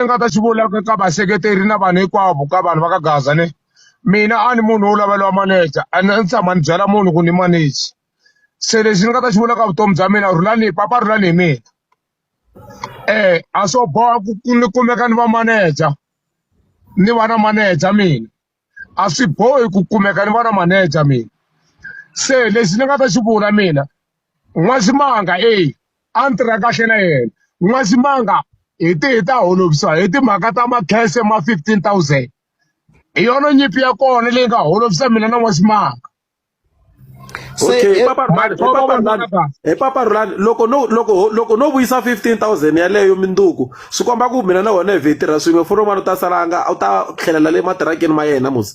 ni nga ta xi vulaka ka vaseketeri na vanhu hinkwavo ka vanhu va ka gaza ni mina a ni munhu wo laveliwa maneja a ni tshama ni byela munhu ku ni maneji se lexi ni nga ta xi vulaka vutomi bya mina rhulani papa rhulani hi mina um a swo boha ku ni kumeka ni va maneja ni va na maneja mina a swi bohi ku kumeka ni vona manager mina se lexi ni nga ta xi vula mina n'waximanga e a ni tirha kahle na yena n'waximanga hi ti hi ta holovisa hi timhaka ta makhese ma fifteen thousand hi yona nyimpi ya kona leyi nga holovisa mina na n'waximanga okay papa rhulani papa rhulani he papa rhulani loko no loko loko no vuyisa 15000 yaleyo minduku swi komba ku mina na wena hi vhe tirha swin'we foni wun'wana u ta salanga u ta tlhelela le matirakeni ma yena musi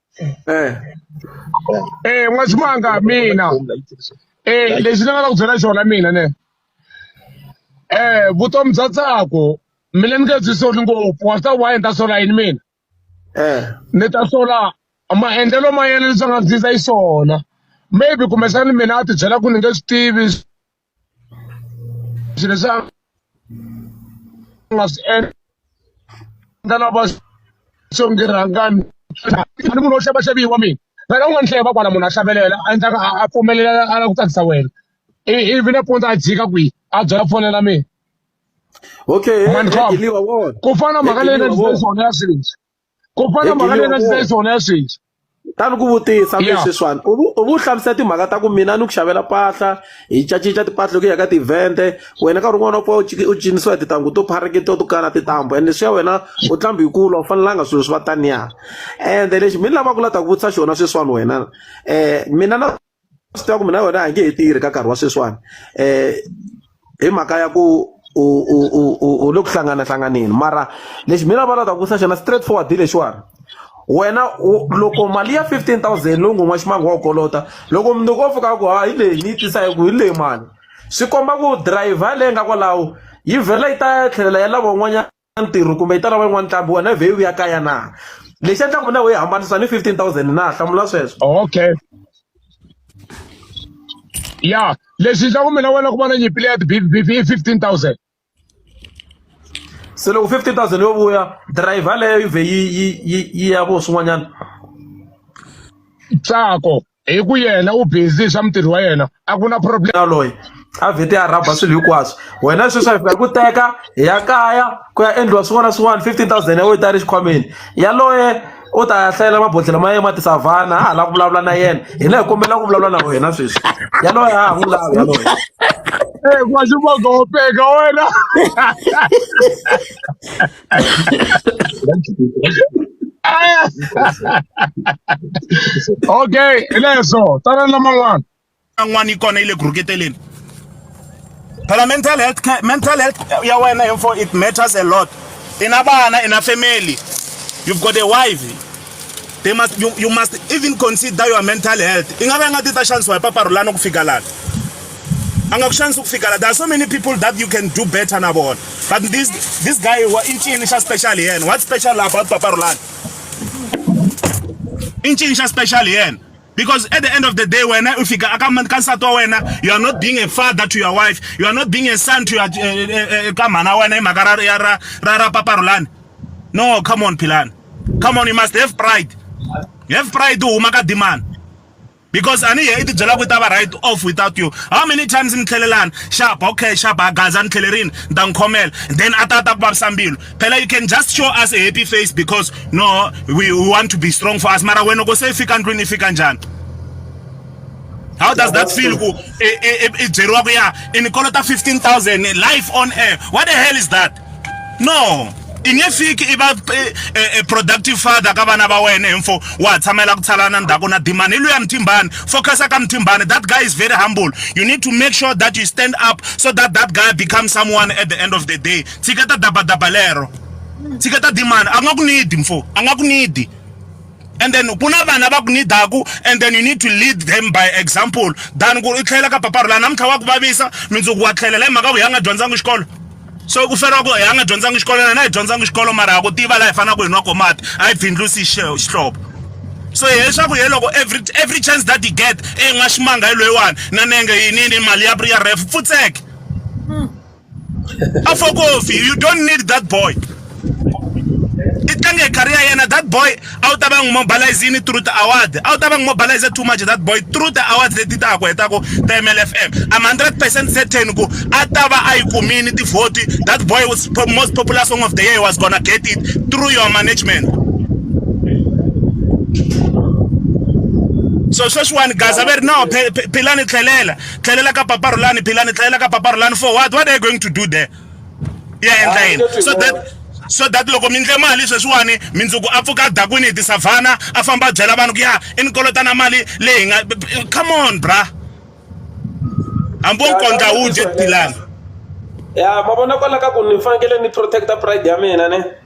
eh eh n'wana ximanga mina eh lexi ni nga la ku byela xona mina ne eh vutomi bya tsako mina ni nge byi soli ngopfu wa swi ta why ni ta sola yini mina eh ni ta sola maendlelo ma yena leswi a nga ndzi ndza yi swona maybe kumbexani mina a ti byela ku ni nge swi tivi swilo leswi a nga swi endla na va xonge rhangani a ni munhu wo xava xaviwa mina vhela u nga ni hleva kwala munhu a hlavelela a endlaka a pfumelela a lava ku tsakisa wena ivi nampundzu a jika kwihi a byela fonela mina okay ku fana mhaka leyi nga ndzi swona ya swilo leswi ku fana Hi mhaka leyi nga Giliyovoni. ndzi yona ya sweswi ta ni ku vutisa Yeah. leswi swani u vu- u vu hlamusela timhaka ta ku mina ni ku xavela mpahla hi cacinca timpahla loko hi ya ka tivhende wena nkarhi un'wana u pfa u ciki- u cinisiwa hi tintangu to pharekete to kana tintambu and leswi ya wena u tlambi hi kula u fanelanga swilo swi va taniya ende lexi mi ni lavaka la ta ku vutisa xona sweswiwani wena um mina na swi tiva ku mina wena a hi nge he tirhi ka nkarhi wa sweswiwani um hi mhaka ya ku u u u u u le ku hlanganahlanganeni mara lexi mina va lava ku sa xona straight forward hi lexiwani wena loko mali ya 15000 lowu ngon'wa ximango wa kolota loko mundzuku wo fika ku ha hi leyi ni yi tisa hi ku hi leyi mali swi komba ku driver leyi nga kwalaho yi vhela yi ta tlhelela ya lava un'wanyana ntirho kumbe yi ta lava yin'wana ntlhambi wena vhe u ya kaya na lexi endlaka mina wo yi hambanisa ni fifteen thousand na hlamula sweswo okay ya lexi endlaka mina wena ku va na nyimpi leya tibibibi i fifteen thousand se loko fifteen thousand yo vuya driver leyo yi vhe yi yi yi yi ya vo swin'wanyana tsako hi ku yena u busy hi swa mutirhi wa yena a ku na problem loyi a vhete a rhaba swilo hinkwaswo wena sweswi a fika hi ku teka hi ya kaya ku ya endliwa swin'wana na swin'wana fifteen thousand ya wena yi ta ri xikhwameni yaloye u ta ya hlayela mabodhlelo ma yena ma tisavhana a ha lava ku vulavula na yena hina hi kombela ku vulavula na wena sweswi yaloye a ha n'wi lavi yaloye Hey, wena okay hi leswo tana na man'wana n'wana yi kona yi le ku rhuketeleni phela mental health care mental health ya wena info it matters a lot i na vana i na family you've got a wife they must you, you must even consider your mental health i nga va nga ti ta xanisiwa hi paparulana ku fika lana a nga ku xanisi ku fika la there are so many people that you can do better na vona but this this guy wa i ncini xa special hi yena what special about paparulana i ncini xa special hi yena Because at the end of the day, when if you come when you are not being a father to your wife, you are not being a son to your eh, eh, eh, kamana when magara yara rara paparulan. No, come on, Pilan. Come on, you must have pride. You have pride to umaka demand. because ani ye i tibyela ku ta va right off without you how many times ni tlhelelani xapa okay xapa gaza ni tlhelerini ni ta n'wi khomela then a ta ta ku vavisa mbilu phela you can just show us a happy face because no we, we want to be strong for us mara wena kose ifika ndlwini ifika njani how does that feel ku ibyeriwa ku ya inikolo ta 15000 life on air what the hell is that no i nge fiki i va eh, eh, eh, productive father ka vana va wena info wa tshamela ku tshalana ndzhaku na dimani i luya mthimbani focusa ka mthimbani that guy is very humble you need to make sure that you stand up so that that guy becomes someone at the end of the day tshika ta dabadaba lero tshika ta dimana a ku nga ku nidi mfo a nga ku nidi and then ku na vana va ku nidaku and then you need to lead them by example than ku i tlhelela ka paparu laha namuntlha wa ku vavisa mindzuku wa tlhelela hi mhaka ku hi a nga dyondzanga xikolo so ku feriwa ku hi a nga dyondzanga xikolo na na hi dyondzanga xikolo mara ha ku tiva laha hi fanelaka hi nwa ko mati a hi bindlusi xihlobo so hileswaku ye loko every every chance that he get e nga ximanga hi loyiwani na nenge yinini mali ya ya ref pfutseke afokofi you don't need that boy i tlange hi career yena that boy a wu ta va n'wi mobilize yini through the award a wu ta va n'wi mobilize too much that boy through the award leti ta ha ku hetaku ta mlfm i'm 100 percent certain ku a ta va a yi kumini tivhoti that boy was most popular song of the year was gonna get it through your management so sweswiwani gaza ve ri no philani tlhelela tlhelela ka papa rulani philani tlhelela ka papa rulani for what what are you going to do there ya endla ah, yini so that so that loko mi ndle mali sweswiwani mindzuku a pfuka dakwini hi tisavhana a famba a byela vanhu ku ya i ni kolota na mali leyi nga come on bra hambi wo nkondla wu dye tilani ya ma vona kwala ka ku ni fanekele ni protecta pride ya mina ne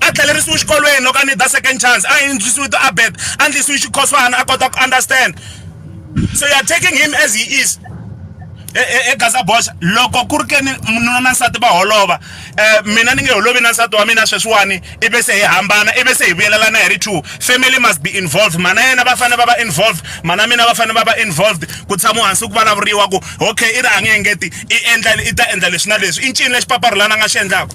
a tlhelerisiwi xikolweni loko a need a second chance a yindzisiwi to abed a ndlisiwi xikhoswana a kota ku understand so you are taking him as he is egaza bosh loko ku ri ke ni nuna na nsati va holova um mina ni nge holovi na nsati wa mina sweswiwani i ve se hi hambana i ve se hi vuyelelana hi ri two family must be involved mhana yena va fanele va va involved mhana mina va fanele va va involved ku tshama hansi ku vulavuriwa ku okay i ri a nge engeti i endla i ta endla leswi na leswi i ncini lexi paparhulana a nga xi endlaka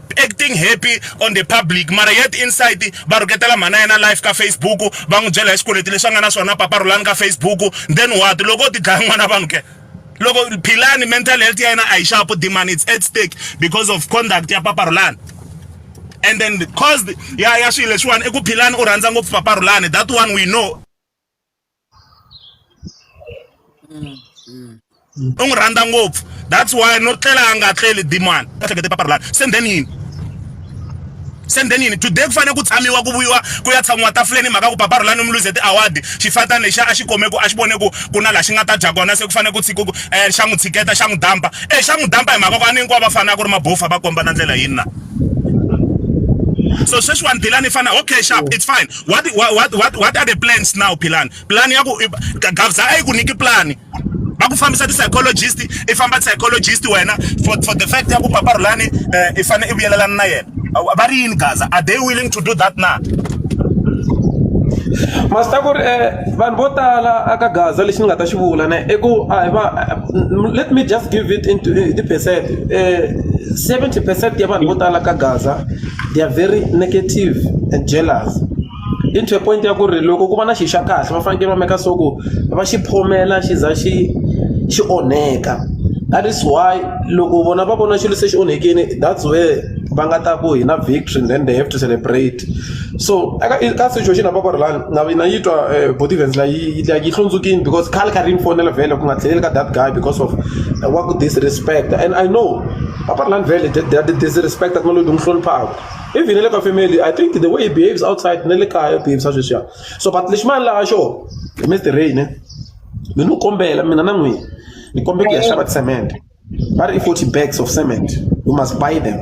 acting happy on the public mara yet inside va rhuketela mhana yena live ka facebook va n'wi byela hi swikweleti leswi a nga na swona papa rhulani ka facebook then what loko ti dlaya n'wana vanhu ke loko philani mental health ya yena a yi xapu demand it's at stake because of conduct ya papa rhulani and then caused ya ya swilo leswiwani i ku philani u rhandza ngopfu papa rhulani that one we know Mm. u n'wi rhandza ngopfu that's why no tlela a nga tleli dimani a hlekete paparulani se then yini se then yini today ku fanele ku tshamiwa ku vuyiwa ku ya tshamiwa tafuleni mhaka ku paparulani mi luze ti-award xifata lexi a xi kome ku a xi vone ku ku na laha xi nga ta dya kona se ku fanele ku tshika ku um xa n'wi tshiketa xa n'wi dampa e xa n'wi dampa hi mhaka ku a ni hinkwavo va fanele a ku ri mabofa va komba na ndlela yini na so sweswiwani dilani i fana okay sharp it's fine what what what what, what are the plans now philani plan ya ku gavza a yi ku nyiki plan va ku fambisa ti-psychologist i famba psychologist wena for, for the fact ya ku papa rhulani uh, eh, i fanele i vuyelelana na yena va ri yini gaza are they willing to do that na masita ku ri um vanhu vo tala aka gaza lexi ni nga ta xi vula ne i ku a hi va let me just give it into eh, ti percent um seventy percent ya vanhu vo tala ka gaza they are very negative and jealous i to the point ya ku ri loko ku va na xi xa kahle va fanekele va make sure ku va xi phomela xi za xi xi onheka that is why loko vona va vona xilo se xi onhekile that's where va nga ta ku hina victory and then they have to celebrate so eka ka situation ya vakwerhu lani na yi na yi twa body events la yi yi hlundzukile because khale kha ri yi ni fonela vhele ku nga tlheleli ka that guy because of wa ku disrespect and I know. apart lani vele they are disrespect a ku na loyi n'wi hloniphaka even na le ka family i think the way he behaves outside na le kaya u behavisa sweswiya so but lexi mani laha xo mr rain eh, mi ni kombela mina na n'wina ni kombela ku ya xava cement va ri i forty bags of cement we must buy them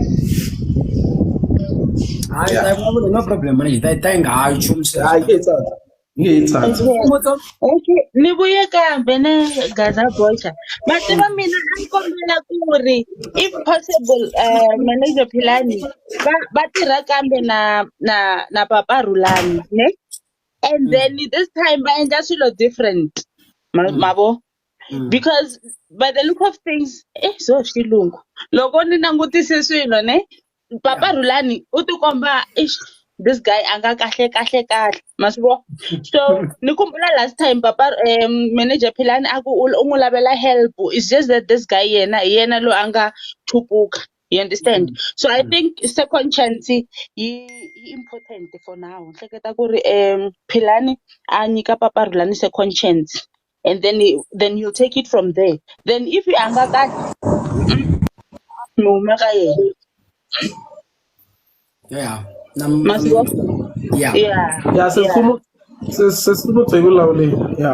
hayi no problem manje ta yi nga hayi nchumu ngiyayithanda Umbuzo, Okay, ni vuye kambe ne Gaza Bocha. Mativa mina a ni kombela ku ri if possible uh, manager Philani va va tirha kambe na na na Papa Rulani, ne? And then this time va endla swilo different. Ma, mavo? Because by the look of things, eh so xilungu. Loko ni langutise swilo ne Papa yeah. Rhulani u tikomba ish this guy a nga kahle kahle kahle ma swi vona so ni kumbula last time papa um, manager philani a ku u n'wi lavela help is just that this guy yena hi yena loyi a nga thupuka you understand mm. so i mm. think second chance yi yi important for now ni hleketa ku ri um philani a nyika papa Rhulani second chance and then he, then he'll take it from there then if a nga ka mi huma ka yena yeah na ma swi vona? yeah yeah ya sesikhulu sesikhulu byi vulavulile ya